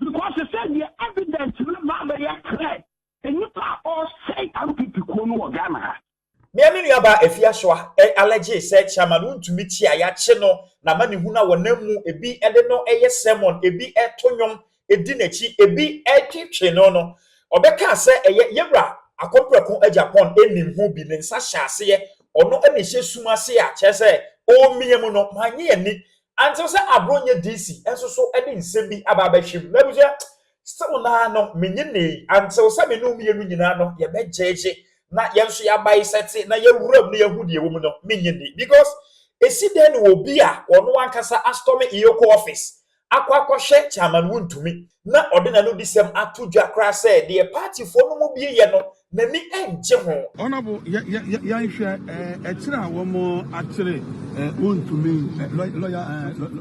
Because sɛ deɛ evidence no ba abɛyɛ clear, nnipa a ɔresɛe NPP kuo no wɔ Ghana ha. Nea me nua baa Afiasoa allege sɛ Chairman Wontumi Kyi a yɛakye no n'amanehunu a wɔnam mu, ebi de no yɛ sermon, ebi to nnwom di n'akyi, ebi twetwe no no, ɔbɛkaa sɛ ɛyɛ Yɛwura Akɔmprɛko Agyapong nim ho bi ne nsa hyɛ aseɛ, ɔno na ɛhyɛ sum ase a kyerɛ sɛ ɔremiam no, mannye anni Ankyɛ sɛ Abronyɛ DC nso so de nsɛm bi aba abɛhwem. M'abusua, still no ara no, menye nnɛ yi, ankyɛ sɛ me ne wo mmienu nyinaa no yɛbɛgyegye na yɛn nso yɛabae sɛte na yɛawura mu na yɛahu deɛ ɛwɔ mu no, menye nni. Because ɛsi dɛn na obi a ɔno ankasa astɔme Iyoko office akɔ akɔhwɛ Chairman Wontumi? na ɔde n'anodisɛm ato dwa koraa sɛ deɛ paatifoɔ no mu bi reyɛ no, n'ani nnye ho. Honourable Yɛnhwɛ ɛkyerɛ a wɔn akyere wontumi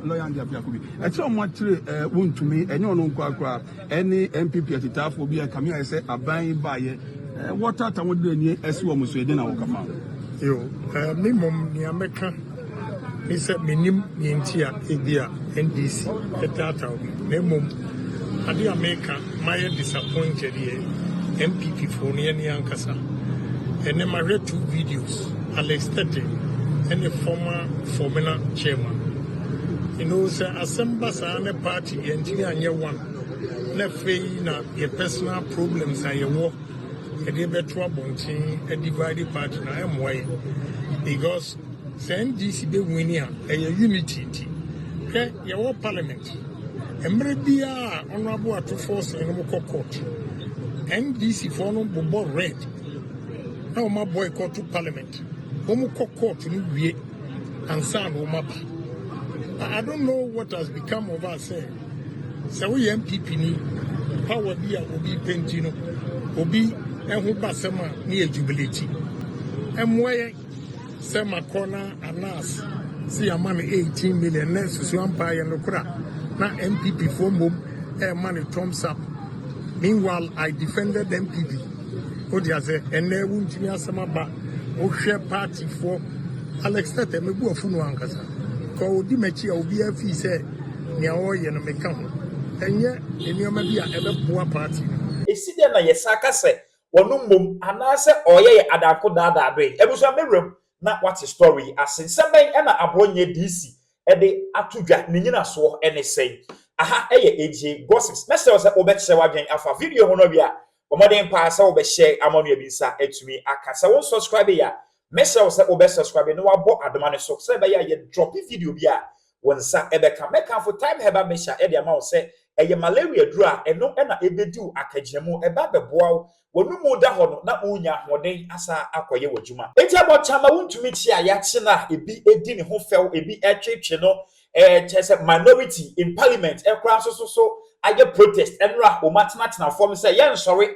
lawyer ndeɛ biako bi ɛkyerɛ wɔn akyere wontumi ɛnyɛ ɔno nkoa koraa ɛne NPP atitaafoɔ bi a kame ayɛ sɛ aban yi baayɛ wɔtata wɔn de ani ɛsi wɔn so ɛde na wɔka fa. Yo, me mom nea mɛka. Me sɛ mennim nea enti a ebia NDC taataw me, na mmom ade a meka mayɛ disappointed yɛ NPP fo no yɛne ankasa. Ɛnnɛ mahwɛ two videos, Alex Tetteh ne former Formina chairman. You know, sɛ asɛm ba saa ne party yɛntumi anyɛ one, na afei na yɛ personal problems a yɛwɔ yɛde bɛto abɔnten divide party na ɛmmoa yɛn because Sɛ NDC bɛ wini a ɛyɛ unity nti. Hwɛ yɛ wɔ parliament mmere biaa honourable atufoɔ sene nom kɔ court. NDC foɔ no bobɔ red na wɔn aboycott to parliament. Wɔn kɔ court no wie ansa na wɔn aba. I don't know what has become of us sɛ sɛ woyɛ NPP ni power bi a obi penti no obi ɛho basɛm a ne yɛ jubilate. Ɛmmoa yɛn. Sɛ makɔ na Anas se yɛama no 18 million na nsusu ampa ayɛ nokorɛ a, na NPP foɔ mmom ɛrema no thumbs up. Meanwhile I defended NPP. Wote ase? Ɛnnɛ wontumi asɛm aba. Wohwɛ party foɔ, Alex Tɛtɛ mebu afu no ankasa. Kɔ ɔdi m'akyi a obiara fii sɛ nea ɔreyɛ no meka ho. Ɛnyɛ nneɛma bi a ɛbɛboa party no. Esi dɛn na yɛsan ka sɛ Wɔnom mmom anaasɛ ɔɔyɛ yɛ adanko daadaa doe. Abusua me werɛm na wate story yi ase. Nsɛm bɛn na aboɔ nyɛ DC de ato dwa ne nyinasoɔ ne sɛn? Aha yɛ AGA gossips. Mɛsrɛ wo sɛ wo bɛkyerɛ wadwen afa video ho no wie a bɔ mmɔden paa sɛ wo bɛ share ama onua bi nsa atumi aka. Sɛ wo nsɔscribe yɛ a mɛsrɛ wo sɛ wo bɛ subscribe na wabɔ adoma no so sɛ ɛbɛyɛ a yɛ drope video bi a Wo nsa bɛka. Mɛkamfo Thyme Herbal Mixture de ama wo sɛ ɛyɛ malaria aduru a ɛno na ebedi wo akagyina mu. Ɛba bɛboa wo. W'anom da hɔ no, na wunya ahoɔden asan akɔyɛ w'adwuma. Enti abɔnten amma wuntumi te a yɛakye no a ebi di ne ho fɛw, ebi tweetwee no, ɛɛ kyerɛ sɛ minority in parliament koraa nso so so ayɛ protest, nnora wɔatenatena fam sɛ yɛnsɔre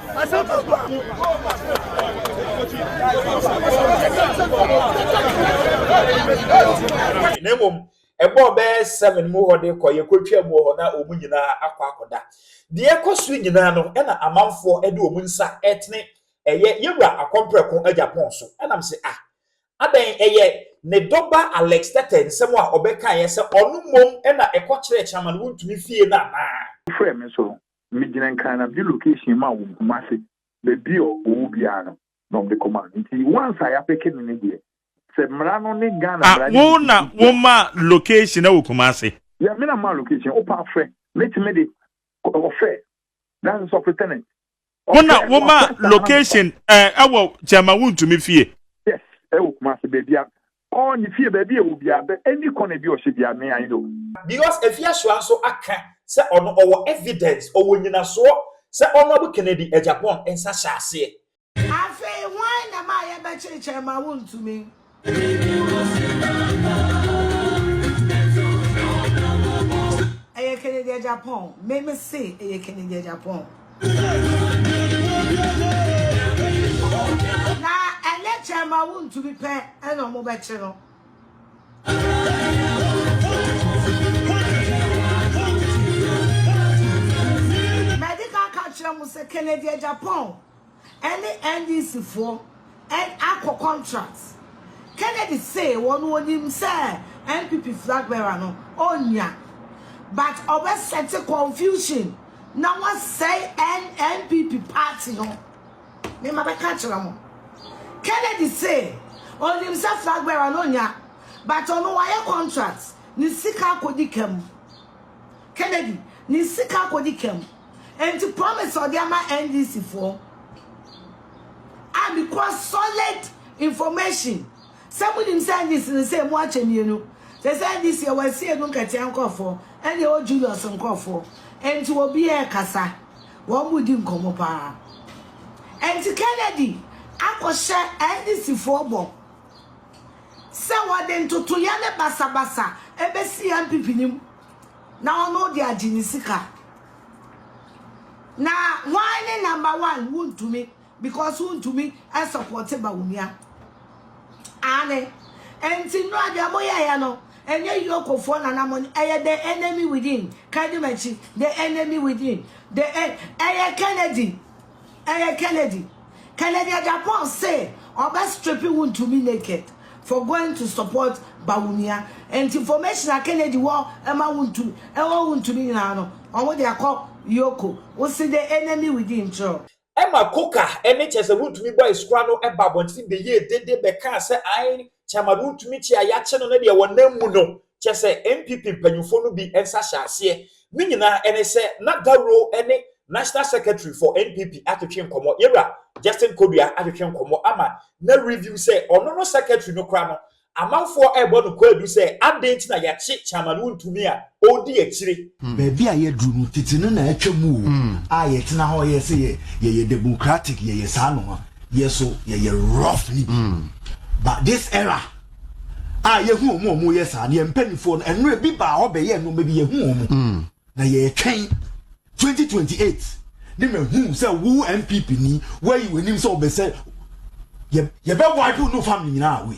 na mmom ɛbɔɔ bɛyɛ seven mu hɔ de kɔ yɛkɔtwaa mu wɔ hɔ na wɔn nyinaa akɔ akɔda deɛ ɛkɔ so nyinaa no ɛna amanfoɔ de wɔn nsa ɛtene ɛyɛ yɛwura akɔmprɛko agya pɔn so ɛnam sɛ ah adɛn ɛyɛ ne dɔba Alex Tɛtɛ nsɛm a ɔbɛkaeɛ sɛ ɔno mmom ɛna ɛkɔ kyerɛɛ Chairman Wontumi fie no anaa? Wofrɛɛ me nso Me gyina Nkranabi location mu a wɔ Kumasi baabi a ɔwɔ biara no na wɔn de kɔ ma no nti once a yɛapeke no ne deɛ sɛ mmara no ne Ghana ah, mmara no wo na wo ma location ɛwɔ Kumasi. Yeah, me na ma location, wo pa frɛ, me ti me de, ɔfɛ, that's the superintendent. Wo na wo ma location ɛwɔ eh, kyɛma wo ntumi fie. Yes, ɛwɔ Kumasi baabi a Ɔɔ ne fie baabi a ɛwɔ biaa bɛ ɛni kɔ na bi ɔhyɛ biaa me I know. Because Afiasoa nso aka sɛ ɔno ɔwɔ evidence, ɔwɔ nyinasoɔ sɛ Honourable Kennedy Agyapong nsa hyɛ aseɛ. Afei hwan na ɛma a yɛbɛkyerekyɛre ma wontumi? Ɛyɛ Kennedy Agyapong, me mese ɛyɛ Kennedy Agyapong. Na ɛnyɛ kyɛn ma wontumi pɛ na wɔbɛkye no. Mɛde ka ka kyerɛ mo sɛ Kennedy Agyapong ne NDC foɔ Ɛn akɔ contract. Kennedy see wɔn onim sɛ NPP flag bearer no onnya but ɔbɛ sɛte confusion na wasɛe ɛn NPP party no. Me ma bɛka akyerɛ mo. Kennedy see onim sɛ flag bearer no onnya but ɔno wayɛ contract ne sika akɔdi ka mu. Kennedy ne sika akɔdi ka mu. Enti promise a ɔde ama NDC foɔ a me kura solid information sɛ mo nim sɛ NDC no sɛ mo akyɛ mmienu sɛ sɛ NDC ɛwɔ ɛsi enu nkatia nkorɔfoɔ ɛna ɛwɔ Julius nkorɔfoɔ enti wɔ bi ɛkasa wɔn mo di nkɔmɔ paa enti Kennedy akɔhyɛ NDC foɔ bɔ sɛ wɔde ntotoyɛ ne basabasa ɛbɛsi NPP nim Na ɔno de agye ne sika. Na why ne number one wontumi because wontumi ɛsɔpɔte ba onua. Aane ɛnti nnura deɛ mo yɛ yɛ no ɛnyɛ yoko foɔ na na mo ɛyɛ the enemy within kadi makyi the enemy within the ɛyɛ Kennedy Ɛyɛ Kennedy. Kennedy Agyapong se ɔbɛ stripe Wontumi naked for going to support Bawumia. Ɛnti information a Kennedy wɔ ɛma Wontumi ɛwɔ Wontumi nyinaa no ɔmo de akɔ Yoko. Wo se the enemy within nkyerɛ o. Ɛma Coker ne kyerɛ sɛ Wontumi boys kora no ba abɔnten beyie dede bɛkaa sɛ ae Chairman no ntumi kyi a yɛakye no ne deɛ wɔnam mu no, kyerɛ sɛ NPP mpanyimfoɔ no bi nsa hyɛ aseɛ. Ne nyinaa ne sɛ na Dawuro ne National Secretary for NPP atwetwe nkɔmmɔ, yɛn wura Justin Kodua atwetwe nkɔmmɔ ama na review sɛ ɔno no Secretary no kora no, amanfoɔ rebɔ no kwaadu sɛ adɛn nti na yɛakye Chairman Wontumi a. ɔredi akyire. Baabi a yɛaduru no, tete no na atwa mu o, a yɛtena hɔ yɛ sɛ yɛyɛ democratic, yɛyɛ saa no a, yɛ so yɛyɛ rough no bi. But this era a yɛhu wɔn a wɔyɛ saa no, yɛn mpanimfoɔ no, ɛno ebi baa hɔ bɛyɛ nneɛma bi, yɛhu wɔn, na yɛretwɛn 2028 ne mahu sɛ wo NPP ni, woayi w'anim sɛ wobɛsɛ, yɛbɛ wipe wo ne wo family nyinaa away.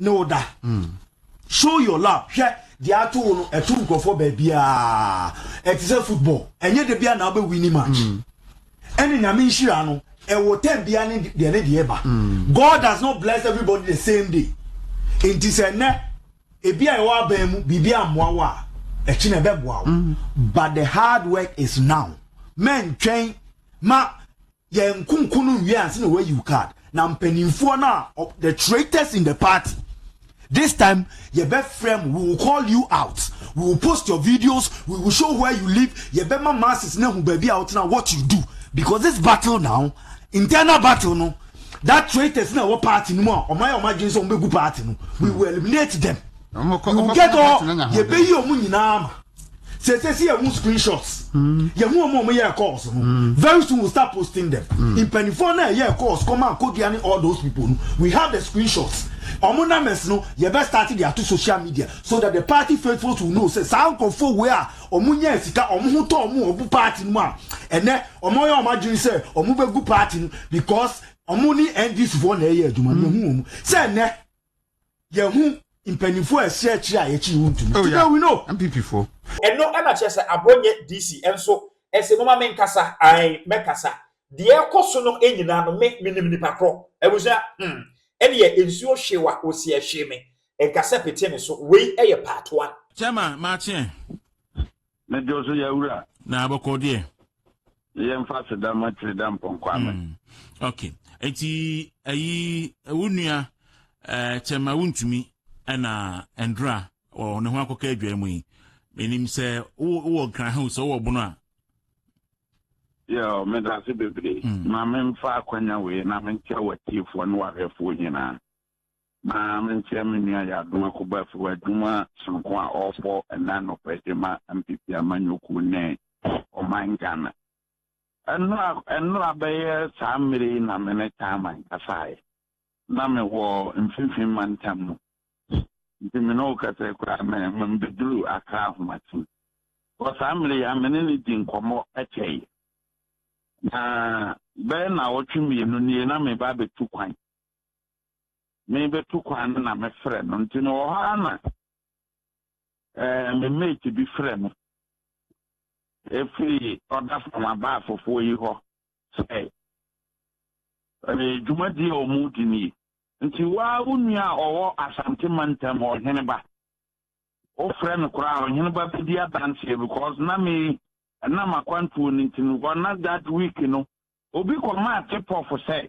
ne wo da mm. show your love hwɛ deɛ ato wo no ɛto nkurɔfoɔ baabiaa ɛte sɛ football ɛnyɛ da bia na wobɛwi ni match mm. ɛne mm. nyame nhyira no ɛwɔ tɛm bia ne deɛ ne deɛ ba mm. god does not bless everybody the same day nti sɛ nnɛ ebi a ɛwɔ abɛn mu biribi ammoa wo a ɛkyi na ɛbɛboa wo mm. but the hard work is now mɛntwɛn ma Yɛn nkonko no nwie ansa na wɔayi wo card. Na mpanimfoɔ no a ɔ the traitors in the party this time yɛbɛfrɛ mo we will call you out we will post your videos we will show where you live yɛbɛma masses no ahu baabi a wotena what you do because this battle now internal battle no that traitors na ɛwɔ party no mu a ɔmayɛ ɔma adwene sɛ ɔmbɛgu party no we will eliminate them Ɔmo kɔ- we ɔmo will kɔ get all party no nya ho yɛbɛyi ɔmo nyinaa ma Sese si yɛhu screenshots. Mm. Yɛhu ɔmo ɔmo yɛ calls no. Mm. Very soon we we'll start posting them. Mm. Mpanimfoɔ na ɛyɛ calls kɔma akodua ne all those people no. We have the screenshots. Ɔmo numbers no yɛbɛ start de ato social media so that the party faithfuls will know sɛ saa nkorɔfoɔ wei a ɔmo nyɛ sika ɔmo ho tɔ ɔmo ɔmo party no mu a ɛnɛ ɔmo yɛ ɔmo adwene sɛ ɔmo bɛ gu party no because ɔmo ne NDC foɔ na ɛyɛ adwuma no yɛhu ɔmo sɛ ɛnɛ yɛn ho mpanyinfoɔ ɛsi akyire a yɛkyi ho ntumi. Today we know. MPP fo. Ɛno na kyerɛ sɛ aborɔ nyɛ DC nso ɛsɛ moma me nkasa ae mɛkasa deɛ ɛkɔ so no nyinaa no me menim nipa korɔ abusua hmm ɛneɛ nsuo hwee wa ɔsi ɛhwee me nkasa pete ne so wei ɛyɛ part one. Chairman Maakye Ne dwo so yɛ wura. Na abɔkɔ deɛ. Yɛ nfa seda ma tiri da mpɔnkɔ ama. Mm. Ok. Eti ayi wo nua eh, kyɛma wontumi ɛna ɛndra wɔ ne ho akɔka adwa mu yi. Menim sɛ wowɔ nkran ho sɛ wowɔ bono a. Yɛ o, meda ase bebree. Mm. Ma memfa akwanya wei na menkyɛ w'atiefoɔ ne w'ahwɛfoɔ nyinaa. Ma menkyerɛ me nua Yadoa Kubasiwo adwuma sononko a ɔrebɔ ɛnnɛ anɔpa yi de ma MPP amanyɔkuo ne ɔman Ghana. Ɛnnora ɛnnora bɛyɛ saa mmerɛ yi na me ne Taaman kasaeɛ. Na mewɔ mfimfini mantam mu. Nti me ne wo kasa yi koraa me mebɛduru Accra Ahomaten. Wɔ saa mmerɛ yi ara me ne no dii nkɔmmɔ kyɛeɛ. Na bɛyɛ nnawɔtwe mmienu nie na mereba abɛtu kwan. merebetu kwan no na mefrɛ no. Nti mewɔ hɔ ara na ɛɛ me mate bi frɛ me efiri ɔda fam abaafofoɔ yi hɔ sɛ ɛɛ dwumadie a wɔredi nie. Nti waa wo nua a ɔwɔ Asante mantam hɔ ɔhene ba wofrɛ no koraa ɔhene ba bɛdi adanseɛ because na me ɛnam akwantuo no nti no na that week no Obi kɔmaa tip-off sɛ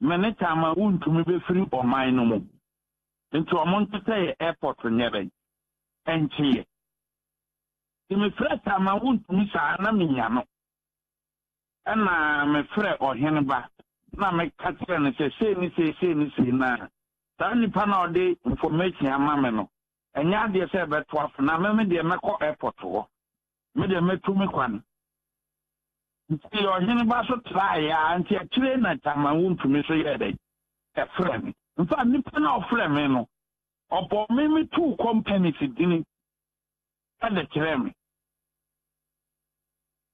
me ne Tama wuntumi befiri ɔman no mu, nti ɔmo ntetɛ yɛ airport nyɛ dɛn nkye yɛ. Nti me frɛɛ Tama wuntumi saa na me nya no. Ɛna me frɛ ɔhene ba na me ka kyerɛ no sɛ sei ne sei sei ne sei na saa nipa no a ɔde information ama me no ɛnyɛ adeɛ sɛ ɛbɛto afo na me me deɛ mɛkɔ airport hɔ. Me deɛ mɛtu me kwan. Nti ɔhene ba so traeɛ ara nti akyire na Taman wu ntumi so yɛɛ dɛn? Ɛfrɛɛ me. In fact, nipa no a ɔfrɛɛ me no, ɔbɔɔ me me tuu companies dini de kyerɛɛ me.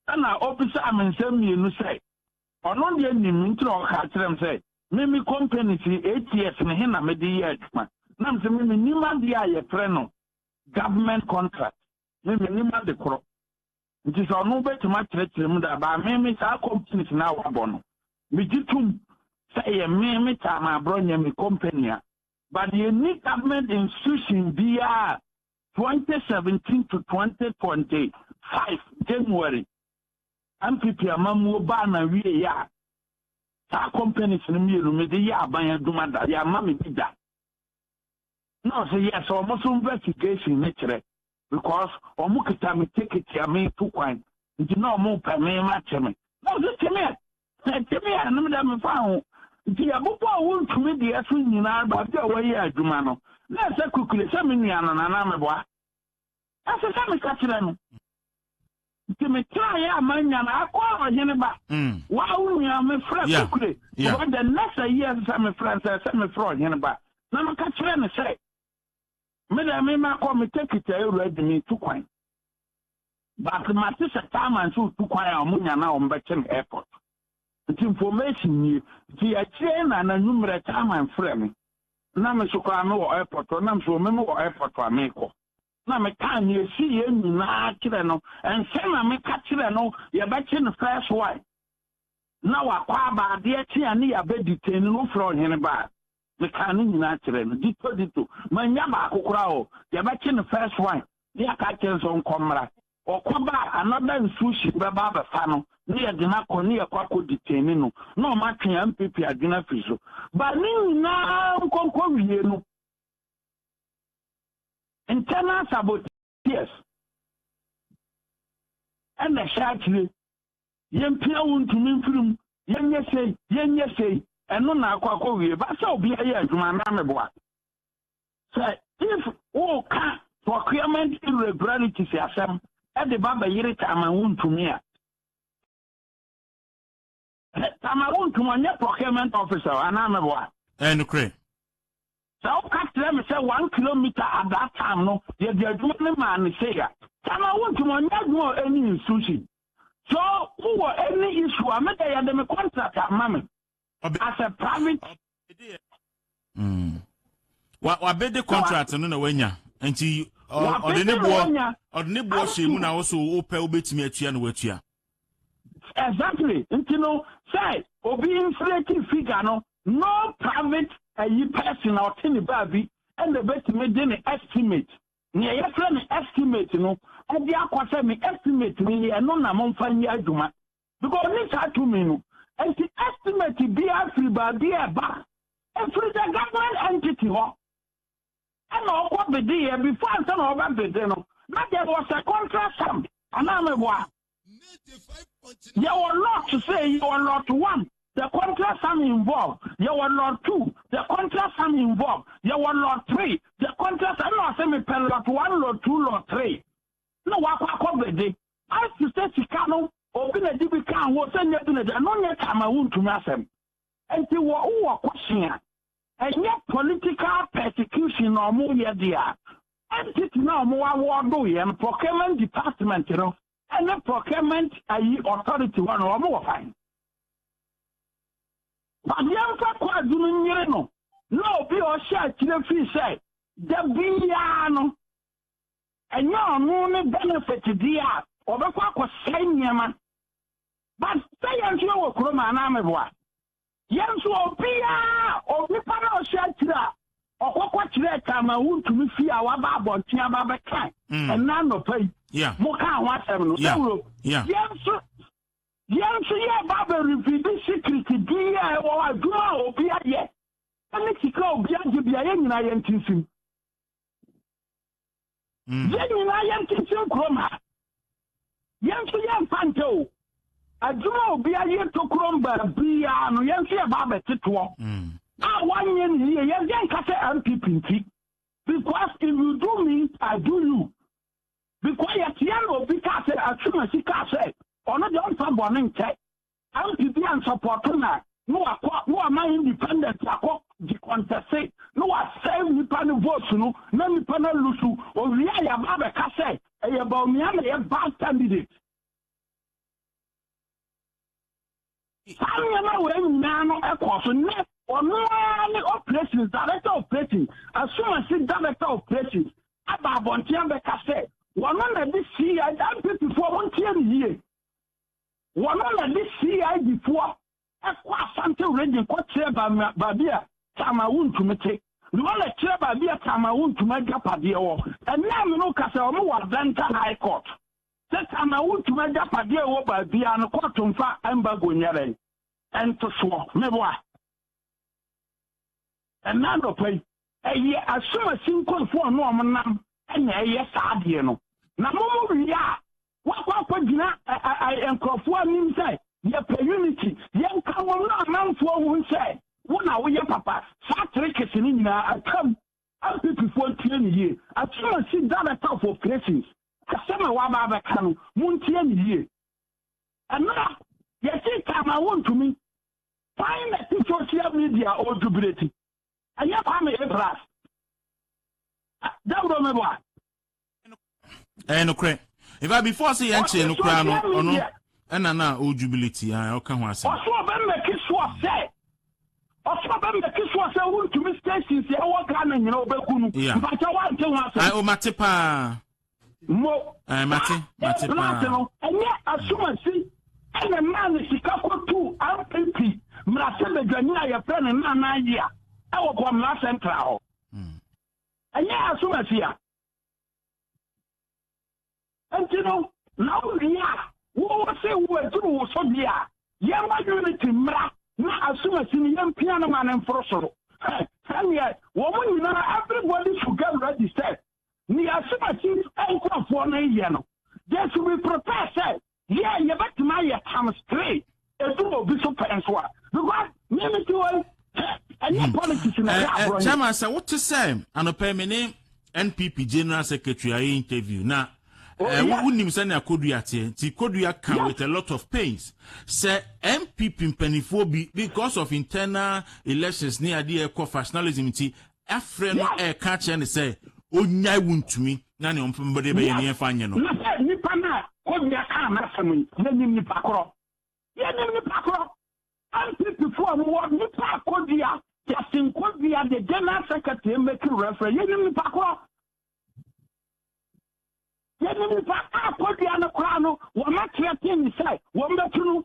Ɛna ɔbisaa me nsɛm mmienu sɛ, ɔno deɛ nim me nti na ɔkaa kyerɛɛ me sɛ, me me companies yi eight years me he na mede yɛ adwuma? Na mese me mennim adeɛ a yɛfrɛ no government contract. me mennim ade korɔ nti sɛ ɔno bɛtumi akyerɛkyerɛ mu da baa me me saa companies no a wabɔ no megye tom sɛ yɛ me me taa ma aborɔ nyɛ me company a but yɛnni government institution biara 2017 to 2025 January MPP amammuo baa na wie yɛ a saa companies no mmienu mede yɛ aban adwuma da yɛ ama me bi da Na ɔse yes ɔmo nso investigation ne kyerɛ because ɔmo kita me ticket a me tu kwan nti na ɔmo pɛ me ma kye me na ɔse kye me a na kye me a na me dɛ me fa ho nti yɛbobɔ a wontumi deɛ so nyinaa baabi a wɔyɛ adwuma no na ɛsɛ kukule sɛ me nua no na na meboa Ɛsɛ sɛ meka kyerɛ no. Nti metraeɛ a mannya no. Akɔ a ɔhene ba. Wo a wo nua mefrɛ Kokure. Over the next a year ɛsɛ sɛ mefrɛ no sɛ ɛsɛ sɛ mefrɛ ɔhene ba na meka kyerɛ no sɛ me deɛ me makɔ me take kyɛ awura di metu kwan. But mate sɛ Taaman sɛ ɔtu kwan a wɔnya no a wɔbɛkye no airport. Nti information nie. Nti akyire yi na n'anwummerɛ Taaman frɛ me. Na me nso koraa mewɔ airport hɔ na me nso wɔmema wɔ airport a merekɔ. na mekaa nea esiiɛ nyinaa kyerɛ no. Ɛnsɛ na meka kyerɛ no yɛbɛkye no first wife na wakɔ aba adeɛ kye a ne yɛabɛ detain no wofrɛ ɔhene ba a. Mekaa ne nyinaa kyerɛ no ditto ditto. Mannya baako koraa o. Yɛbɛkye no first wife na yɛaka akyerɛ no sɛ ɔnkɔ mmra. Ɔkɔ ba a another institution bɛba abɛfa no na yɛde no akɔ na yɛkɔ akɔ detain no na ɔmo atwe yɛn ampepe adwene afiri so. But ne nyinaa nkɔnkɔwie no, Internal saboteers na ɛhyɛ akyire, yɛmpia wo ntumi mfiri mu, yɛnyɛ sei, yɛnyɛ sei, ɛno na akɔ akɔwie. Ɛba sɛ obiara yɛ adwuma anaa meboa? Sɛ if woka procurement irregularities asɛm de ba bɛyere Taaman wontumi a, Hɛ, Tamar wontum ɔnyɛ procurement officer o, anaa meboa? Ɛyɛ nokorɛ. Sɛ woka kyerɛ me sɛ one kilometer at that time no yɛde adwuma no maa no sei a. Tamar wontum ɔnyɛ adwuma wɔ any institution, so wowɔ any issue a me deɛ yɛde me contract a ma me as a private. Mm. wabɛde contract no na wanya nti ɔde ne boɔ ɔde ne boɔ hyɛ mu na ɔso wopɛ wobɛtumi atua na watua exactly nti no sɛ obi inflate figure no no private ayi eh, person na ɔte ne baabi ɛna ɛbɛtumi de ne estimate nea yɛfrɛ no estimate no ɛde akɔ sɛ me estimate no ni ɛno na momfa nyɛ adwuma because ɔnim saa tumi no nti estimate biara firi baabi a ɛba ɛfiri the government entity hɔ ɛna ɔkɔ bedeeɛ before ansa na ɔbɛ bede no na there was a contract signed anaa meboa yɛwɔ lot sɛ yɛwɔ lot one the contract sum involved yɛwɔ lot two the contract sum involved yɛwɔ lot three the contract ɛna ɔsɛ mepɛ lot one lot two lot three na wakɔ akɔ bede As te sɛ sika no, obi na di bi kaa ho sɛ nyɛ bi na di, ɛno nyɛ kyɛ ama wontumi asɛm. Enti wɔ wo wɔ question a, ɛnyɛ political persecution na ɔmo yɛ de a, entity na ɔmo awɔɔdo yɛ no, procurement department no ɛne procurement ayi authority hɔ no, ɔmo wɔ fine. But yɛmfa Kwadu no nyere no na obi a ɔhyɛ akyire fii sɛ da biara no, Ɛnyɛ ɔno ne benefit deɛ a ɔbɛkɔ akɔsɛe nneɛma but sɛ yɛn nso yɛwɔ kurom a anaa meboa yɛn nso obiara onipa na ɔhyɛ akyire a ɔkɔkɔ kyerɛ ka ma wontumi fie a waba abɔnten aba bɛka mm. ɛna nnɔpa yi yeah. moka ho asɛm no yeah. ɛwuro yeah. yɛn nso yɛn nso yɛ ba bɛrevidi secret bi a ɛwɔ adwuma a obi ayɛ ɛne sika obi agye bia yɛn nyinaa yɛn tinsim Mm. yɛn nyinaa yɛn tintin kurom ha yɛn nso yɛn mfa nkyɛ o adwuma a obiara yɛ tokurom baabiara no yɛn nso yɛ ba abɛte toɔ mm. a wanyɛ ne yie yɛn deɛ nka sɛ npp nti because if you do me i do you because yɛteɛ na obi kaa sɛ atwuma si kaa sɛ ɔno deɛ ɔmfa bɔne nkyɛ MP bi a nsɔpɔɔto na na wakɔ na wama independent akɔ gye kɔntɛse na wasɛe nnipa no votes no na nnipa no alusu owie a yɛaba abɛka sɛ ɛyɛ Bawumia na ɛyɛ bad candidate. Saa nneɛma wei nyinaa no ɛkɔɔ so nnɛ ɔno ara ne operations director of operations asumasi director of operations aba abɔnten abɛka sɛ wɔn na de CI NPP foɔ mo ntie ne yie Wɔno na de CID foɔ kɔ Asante region kɔ kyerɛ baabi a Taamaa wontumi te. Na wɔn na kyerɛ baabi a Taamaa wontumi agyapadeɛ wɔ. Ɛnɛ a me ne wo kasa wɔn wɔ Adanta High Court. Sɛ Taamaa wontumi agyapadeɛ wɔ baabiara no kɔɔto mfa embargo nyɛ dɛn? Ɛntosoɔ. Meboa. Ɛnnɛ anɔpa yi, ɛyɛ asumasi nkorɔfoɔ a na wɔnam na ɛyɛ saa adeɛ no. Na momo wie a, wɔakɔ akɔgyina ɛ-ɛ-ɛ nkorɔfoɔ anim sɛ, Yɛpɛ unity, yɛnka mmom na amanfoɔ hu sɛ wo na woyɛ papa. Saa trekese no nyinaa atwam. Mpp-foɔ ntie no yie. Asumasi Director of Operations, asɛm a waba abɛka no, montie no yie. Ɛnnora, yɛse Taamaa wontumi. Kwan na ɛte social media odwo bere ti. Ɛnyɛ Kwame A plus. Dawuro me boa. Ɛyɛ nokorɛ. In fact before sɛ yɛn kyerɛ no koraa no ɔno ɛna na o jubilate a ɔka ho asɛm. Ɔso ɔbɛ mɛki soɔ sɛ ɔso ɔbɛ mɛki soɔ sɛ wuntumi stations ɛwɔ Ghana nyina ɔbɛku no. Mpakyɛ wante ho asɛm. Ayi o mate paa. mo. ɛɛ mate mate paa. ɛɛ no ɛnyɛ asumasi ɛna mmaa ne sika kɔtu npp mmerase badwani a yɛfrɛ no nana yi a ɛwɔ bɔmmara central hɔ hmm. ɛnyɛ asumasi a nti no na wowie a wowɔ sɛ woaduru wo so deɛ a yɛma unity mmara na asumasi no yɛmpia no ma no mforo soro sɛdeɛ wɔn nyinaa everybody should get ready sɛ Nea asubati nkurɔfoɔ no reyɛ no, they should be prepared sɛ yeah yɛbɛtumi ayɛ times three edu obi so pɛ nso a because me me ti wɔ ɛnyɛ hmm. politics na eh, ɛyɛ eh, aborɔ yi. Chairman sɛ wote sɛ anɔpɛ me ne NPP general secretary ayɛ interview na wonim oh, eh, sɛnea kodua teɛ nti kodua ka with a lot of pains sɛ npp mpanimfoɔ bi because of internal elections ne adeɛ ɛkɔ factionalism nti afrɛ no reka akyerɛ no sɛ ɔnnyae wontumi na nea ɔmfomde bɛyɛ no yɛmfa nyɛ no. Na sɛ nipa no a kɔdua kaa n'asɛm yi, yɛnim nipa korɔ, yɛnim nipa korɔ, NPP foɔ a wɔwɔ nipa a kɔdua, Justin Kɔdua the general secretary ɛmɛki reference, yɛnim nipa korɔ, yɛnim nipa a kɔdua no koraa no wɔn atrɛten ne sɛ wɔn bɛtu no.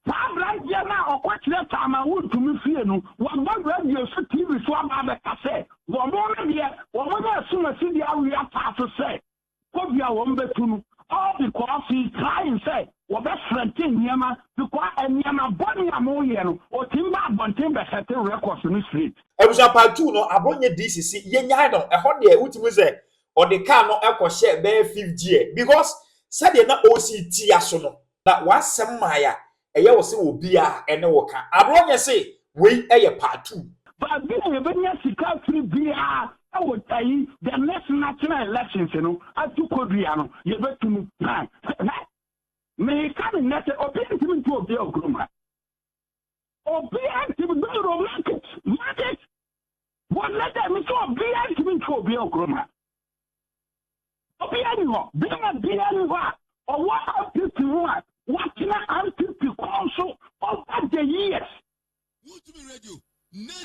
Saa aberanteɛ no a ɔkɔ kyerɛ saa ma wontumi fie no, waba radio so, TV so aba abɛka sɛ wɔn no deɛ wɔnya ɛsom asidie awe ataa so sɛ Covid a wɔn bɛtu no all because he is trying sɛ wɔbɛ frɛnte nneɛma because nneɛma bɔne a moyɛ no ɔtumi ba abɔnten bɛsɛte records no straight. Abusua part two no abɔ nyɛ dcc yɛnyae no ɛhɔ deɛ wotumi sɛ ɔde kaa no kɔhyɛɛ bɛyɛ fifth gear because sɛdeɛ na ɔresi tia so no, na w'asɛm mae a ɛyɛ wo sɛ obiara ne wo ka. Abrɔ nyɛ se wei yɛ part two. Baabi a yɛbɛnya sika afiri biara wɔ ayi the next national elections no atu kodua no yɛbɛtu mu. Hwɛ, meka no nnɛ sɛ obiara ntumi ntu obiara okurom ha. Obiara ntumi bɛyɛ romantic marriage wɔ nnɛ dɛ me sɛ obiara ntumi ntwe obiara nkuruma. Obiara ni hɔ bɛrima biara ni hɔ a ɔwɔ ampiti ho a watena ampiti kɔn so over the years.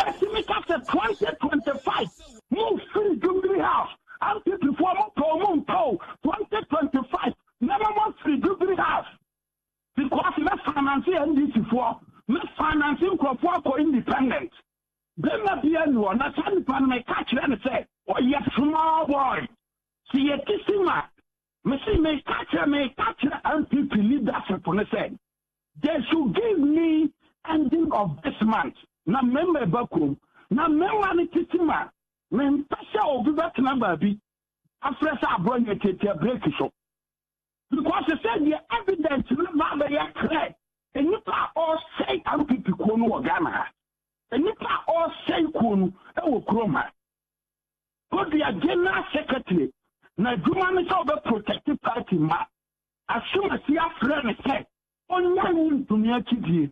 Ɛtumi ka sɛ twenty twenty five mo firi dubiri house ampitifoɔ mo pɛ ɔmo ntɔ o twenty twenty five mɛma mo afiri dubiri house. Because mɛ finance NDC foɔ, mɛ finance nkorɔfoɔ akɔ independent. Bɛɛma bi a ni hɔ na saa nipa no mɛ ka kyerɛ no sɛ ɔyɛ small boy. Sɛ yɛ kisi ma. Mɛ si mɛ ka kyerɛ mɛ ka kyerɛ NPP leadership no sɛ they should give me ending of this month na mɛ mɛ ba kurom. Na mɛ ma no titi ma. Mɛ mpɛ sɛ obi bɛ tena baabi afrɛ sɛ aborɔ nyɛ tiatia break so. Because sɛ deɛ evidence no ba bɛyɛ clear, nnipa a ɔresɛe NPP kuo no wɔ Ghana ha, nnipa a ɔresɛe kuo no wɔ kurom ha. Kodua general secretary, n'adwuma ne sɛ ɔbɛ protect party mma. Asumasi afrɛ no sɛ ɔnyae wo ntumii akyidie.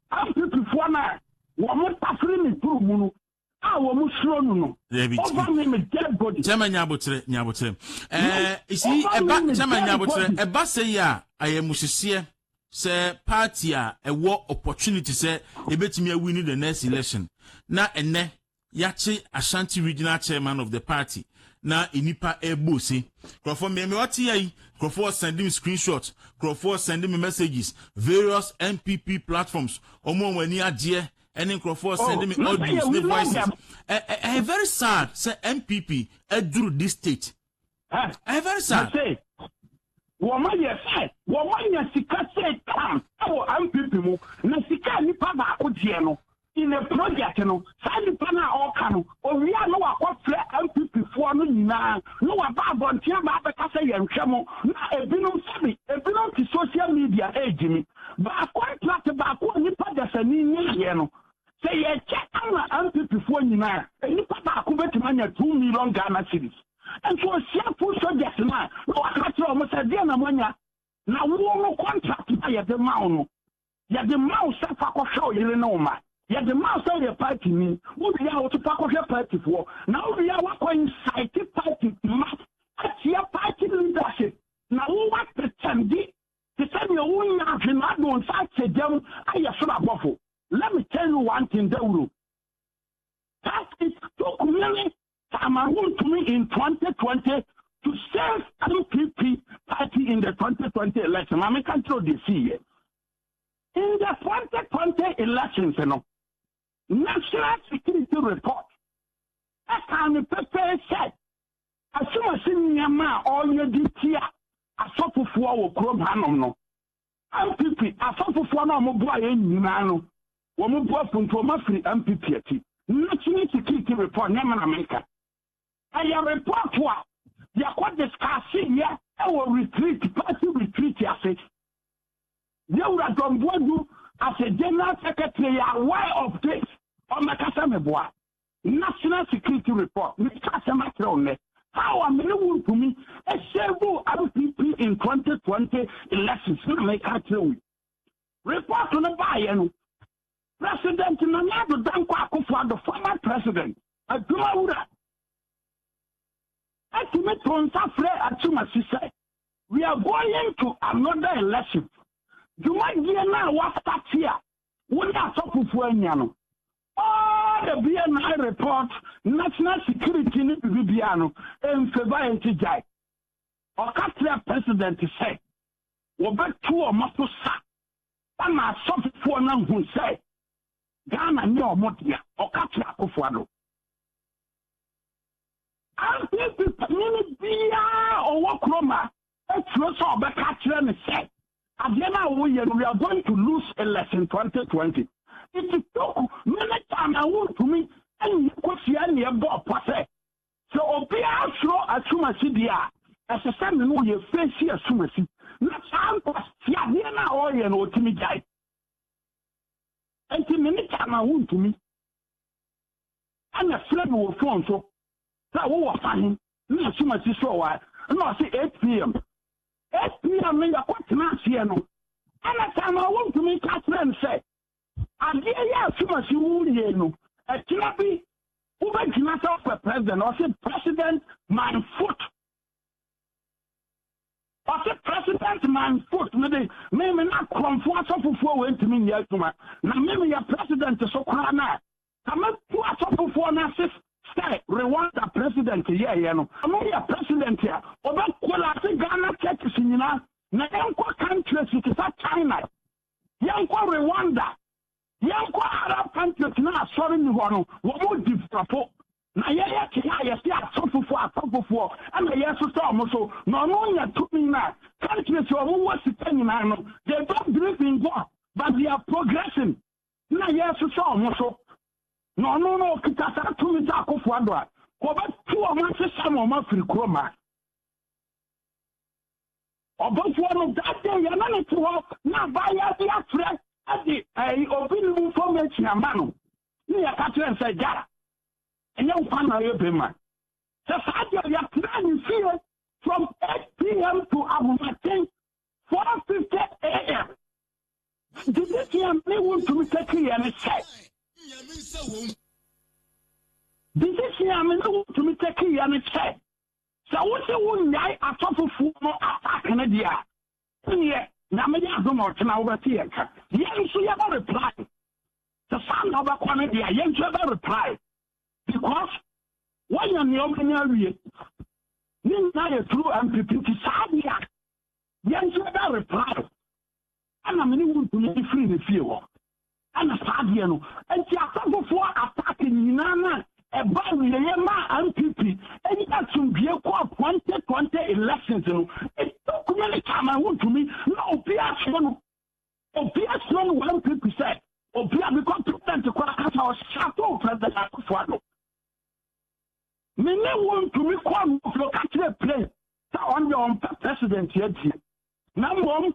Ampipifoɔ no a wɔtafere me turo mu no a wɔsuro no no, over me me dead body. Chairman Nyabotere, Nyabotere. Eh, isi, ɛba, Chairman Nyabotere, ɛba sɛ yi a, ayɛ mo hyeseɛ sɛ party a ɛwɔ opportunity sɛ ɛbɛtumi awini the next election, na ɛnɛ Yɛakye Ashanti Regional Chairman of the party na nnipa rebɔ ose. Nkurɔfoɔ mmea mmea ɔte ya yi, nkurɔfoɔ send me screenshots, nkurɔfoɔ send me messages, various NPP platforms, wɔn a wɔn ani agyeɛ ɛne nkurɔfoɔ send me audios ne voices. Ɛyɛ very sad sɛ NPP aduru this state. ɛyɛ very sad. mo se wɔn ayɛ sɛ wɔn anya sika sɛ tam ɛwɔ npp mu na sika nipa baako deɛ no in a project no saa nipa no a ɔka no owia na wakɔfrɛ npp foɔ no nyinaa na waba abɔnten ba abɛka sɛ yɛntwɛ mo na ebinom sɛbi ebinom te social media ɛgyimi baa contract baako a nipa dasani nyɛyɛ no sɛ yɛkyɛ ama npp foɔ nyinaa nipa baako bɛtumi anya two million ghana series Enti ɔsiafo soldiers no a, na waka kyerɛ wɔn sɛ, Deɛn na moanya? Na wo no contract no a yɛde ma wo no, yɛde ma wo sɛ fa kɔhwɛ wo yere ne wo mma. Yɛde ma wo sɛ yɛ party ni, wo wie a wo nso fa kɔhwɛ party foɔ. Na wo wie a woakɔ incite party mma atia party leadership. Na wo w'atɛkyɛmde te sɛ deɛ wo nya ahwe na ade wo nsa ahyɛ gya mu ayɛ soro abɔfo. Let me tell you one thing Dawuro, That it took many Ama wontumi in twenty twenty to save NPP party in the twenty twenty election ma meka nkyerɛ o deɛ ɛsii yɛ in the twenty twenty elections no national security report ɛkaa no pɛpɛɛ sɛ asomasi nneɛma a ɔreyɛ de tia asɔfofoɔ wɔ kurom hanom no NPP asɔfofoɔ no a wɔn boa yɛn nyinaa no wɔn bo afu nti wɔn afiri NPP akyi. National security report nyɛ me na meka. Ɛyɛ report a yɛkɔ discuss yɛ ɛwɔ retreat party retreat ase. Yɛwura John Boadu as a general secretary yɛ aware of this. Ɔmmɛka sɛ meboa. National security report me ka asɛm akyerɛ wo nnɛ how a me ne wo ntumi ɛsɛvu RPP in 2020 elections na me ka akyerɛ wo report no baayɛ no president Nana Addo Dankwa Akufo Addo former president adwuma wura ɛtumi to nsa frɛ atumasi sɛ we are going to another election dwumadie no a wasate a wo ne asɔfofoɔ anya no All the BNI report national security ne biribi biara no ɛnfɛva ɛnti gyae. Ɔka kyerɛɛ president sɛ wɔbɛtu wɔn aso sa ama asɔfofoɔ no ahu sɛ Ghana nyɛ wɔn dea. Ɔka kyerɛɛ Akufo Addo. NPP panyin biara ɔwɔ kurom a Osuro sɛ ɔbɛka akyerɛ no sɛ, Adeɛ no a woreyɛ no, we are going to lose election 2020. Enti Kuk, me ne Chairman Wontumi nnyɛ kosua na yɛbɔɔ pɔ sɛ, sɛ obiara suro asumasi deɛ a, ɛsɛ sɛ me ne wo yɛ feesi asumasi. Na saa nkwaseadeɛ no a ɔreyɛ no, ɔtumi gyae. Enti me ne Chairman Wontumi ɛna frɛ me wɔ phone so sɛ wowɔ fa he? Nna mehyɛ m'akyi sɔɔ hɔ a nna ɔse eight PM. Eight PM no yɛkɔ tena aseɛ no ɛna saa no wontumi ka kyerɛ no sɛ adeɛ yɛ asumasi wo wie no ɛkyena bi wobɛgyina sɛ wopɛ president ɔse president my foot ɔse president my foot mede meme na korɔmfoɔ asɔfofoɔ wei ntumi nyɛ adwuma na meme yɛ president so koraa no a Sɛ meto asɔfofoɔ no ase sɛ Rwanda president yɛɛyɛ no, ɔno yɛ president a ɔbɛ collapse Ghana churches nyinaa na yɛnkɔ countries te sɛ China, yɛnkɔ Rwanda, yɛnkɔ Arab countries na asɔre ni hɔ no wɔmo developfo na yɛyɛ te a yɛse asɔfofoɔ asɔfofoɔ ɛna yɛsosɛ ɔmo so na ɔno nya tumi na countries ɔmo wɔ sika nyinaa no they don't believe in God but they are progressing na yɛresesa wɔn so, na ɔno no ɔkita saa tumi sɛ akofo ado a wɔbɛto wɔn asesa na wɔn afiri kurom a ɔbɔfoɔ no dade yɛ na ne te hɔ na abaayɛ de afrɛ de ɛyi obi ne mu information ama no ne yɛka kyerɛ sɛ gya ɛnyɛ nkwa na yɛ bɛma sɛ saa deɛ yɛtena ne fie from 8 pm to ahomakye 4:50am, gyidi ti a me wontumi tɛti yɛ ne sɛ. Gyidi ti a me ne wontumi tɛti yɛ ne sɛ, sɛ wosi wo nyae asɔfofo no attack ne deɛ a, ɛneɛ nyame yɛ adom a ɔkyena wobɛte yɛn ka. Yɛn nso yɛbɛ reply. Sɛ saa na wobɛkɔ ne deɛ a, yɛn nso yɛbɛ reply. because wɔnyɛ nea ɔbɛnya awie ne nyinaa yɛ turu mpp nti saa deɛ a yɛnhyɛ da reply ɛna mene wo ntumi de firi ne fie hɔ ɛna saa deɛ no nti asɔfofoɔ atake nyinaa no a ɛba awieɛ maa mpp ɛnyɛ asomdwie kɔ 2020 elections no ɛtokumi ne kyaman wo ntumi na obi aseɛ no Obi asrɛ no wɔ NPP sɛ obi a mekɔ president kɔ akasa ɔhyɛ ato president Akufo Addo. Me ne wo ntumi kɔ nofio ka kyerɛ plane sɛ ɔn deɛ ɔmpɛ president adie. Na mmom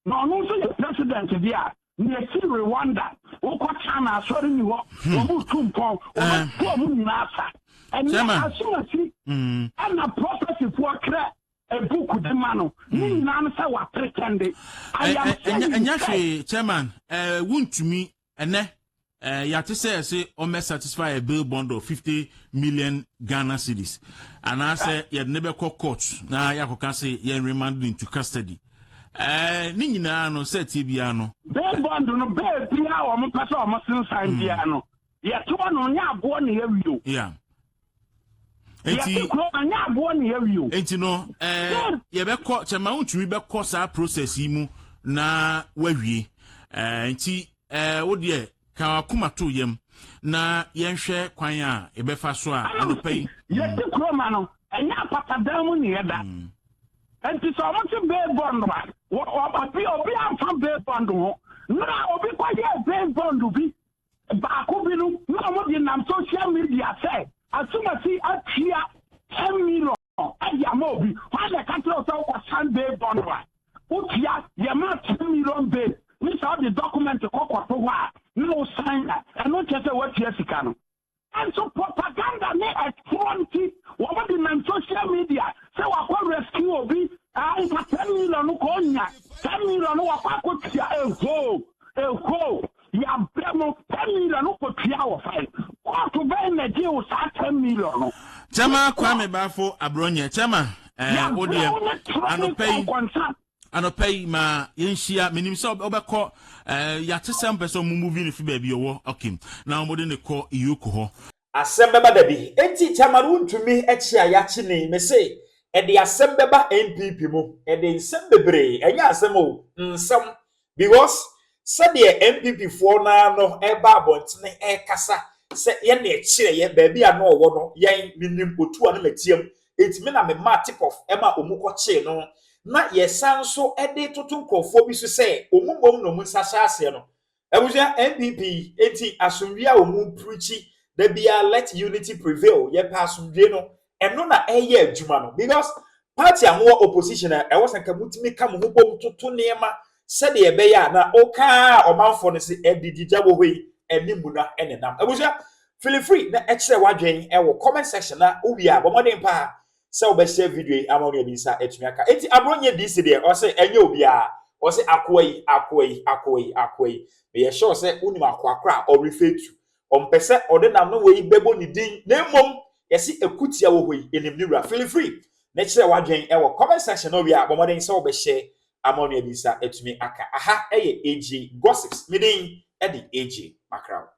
na ɔno nso yɛ president deɛ a na ɛsi Rwanda wokɔ China asɔre ni hɔ hmm. wɔn mu tu mpɔn wɔn eh. bɔ wɔn nyinaa sa. Ɛnna asomasi hmm. ɛna prɔfɛsifoɔ twerɛ a book de ma no ne nyinaa no sɛ wa pretende I am saying sɛ. Ɛnyɛ hwee chairman ɛɛ wuntumi ɛnɛ ɛɛ yate sɛ ɛse ɔmɛ satisfy a bill bond of fifty million Ghana cedis anaasɛ yɛde ne bɛkɔ court na yɛakɔka se yɛn remand ne into custody ɛɛ ne nyinaa no sɛ tie biara no. Bill bond no bɛɛ biara wɔn pɛ sɛ wɔn sensan biara no yɛtoa no nyɛ aboɔ na yɛwie o. nti yɛte kuro ɛnyɛ aboɔ ne yɛwi o nti no ɛɛ yɛbɛkɔ kyɛ ma wontumi bɛkɔ saa process yi mu na wawie ɛɛ nti ɛɛ wo deɛ ka wakoma to yam na yɛnhwɛ kwan a yɛbɛfa so a anɔpa yi yɛte mm. kuro ma no ɛnyɛ apatadan mu ne yɛda mm. nti sɛ ɔmo te bee bɔnd a obi obi amfa bee bɔnd ho na obi kɔyɛ bee bɔnd bi Baako bi no na wɔde nam social media sɛ asumasi atua ten million de ama obi. Hwan na ɛka kyerɛ wo sɛ wokɔsan bail bond a wotua? Yɛmaa ten million bail ne sɛ wode document kɔkɔto hɔ a na wosan a, ɛno nkyerɛ sɛ woatua sika no. Nanso propaganda ne ɛtorɔ nti wɔn de nam social media sɛ wakɔ rescue obi ah nka ten million no kɔ ɔnya ten million no wakɔ akɔtua ehoo ehoo yabrɛ mo ten million no kɔtua wɔ fan kɔɔto bɛn na gye wo saa ten million no Kyɛma Kwame Bafo Abronyɛ Kyɛma eh wodeɛ anɔpa yi Anɔpa yi ma yɛnhyia. Menim sɛ wobɛkɔ eh, yɛate sɛ mpɛ sɛ ɔmo movie no fi baabi ɔwɔ okay na ɔmode ne kɔ Iyoko hɔ. Asɛm bɛba da bi. Enti Chairman wontumi kye a yɛakye ni mese ɛde asɛm bɛba NPP mu ɛde nsɛm bebree ɛnyɛ asɛm o nsɛm Because sɛdeɛ NPP foɔ no ara no ɛreba abɔntene ɛrekasa sɛ yɛn na ɛkyerɛ yɛ baabi a na ɔwɔ no yɛn menim otuo a na matia mu nti me na memaa tip off ma ɔmu kɔkyee no na yɛsan nso de toto nkorɔfoɔ bi so sɛ ɔmu mmom na ɔmu nsa hyɛ aseɛ no abusua NPP nti asomdwie a ɔmu preachi da biara let unity prevail yɛpɛ asomdwie no ɛno na ɛyɛ adwuma no because party a mowɔ opposition a ɛwɔ sɛ nka motumi ka mo ho bom toto nneɛma sɛdeɛ ɛbɛyɛ a na wokaa ɔmanfoɔ no se ɛdigigya wɔ hɔ yi ɛne mu na ɛnenam abusua feel free na ɛkyerɛ w'adwene ɛwɔ comment section na wowie a bɔ mmɔden paa sɛ wobɛhyɛ video yi ama onua bi nsa atumi aka enti aborɔ nyɛ dc deɛ ɔse ɛnyɛ obiara ɔse akoa yi akoa yi akoa yi akoa yi meyɛ sure sɛ wonim akoa korɔ a ɔrefɛ tu Ɔmpɛ sɛ ɔde n'ano wei bɛbɔ ne din na mmom yɛse ɛku tia wɔ hɔ yi ɛnim ne wura feel free ne kyerɛ w'adwen wɔ comment section no wie a bɔ mmɔden sɛ wobɛhyɛ ama onua bi nsa atumi aka aha ɛyɛ AJ Gossips me din ɛde AJ Makraw.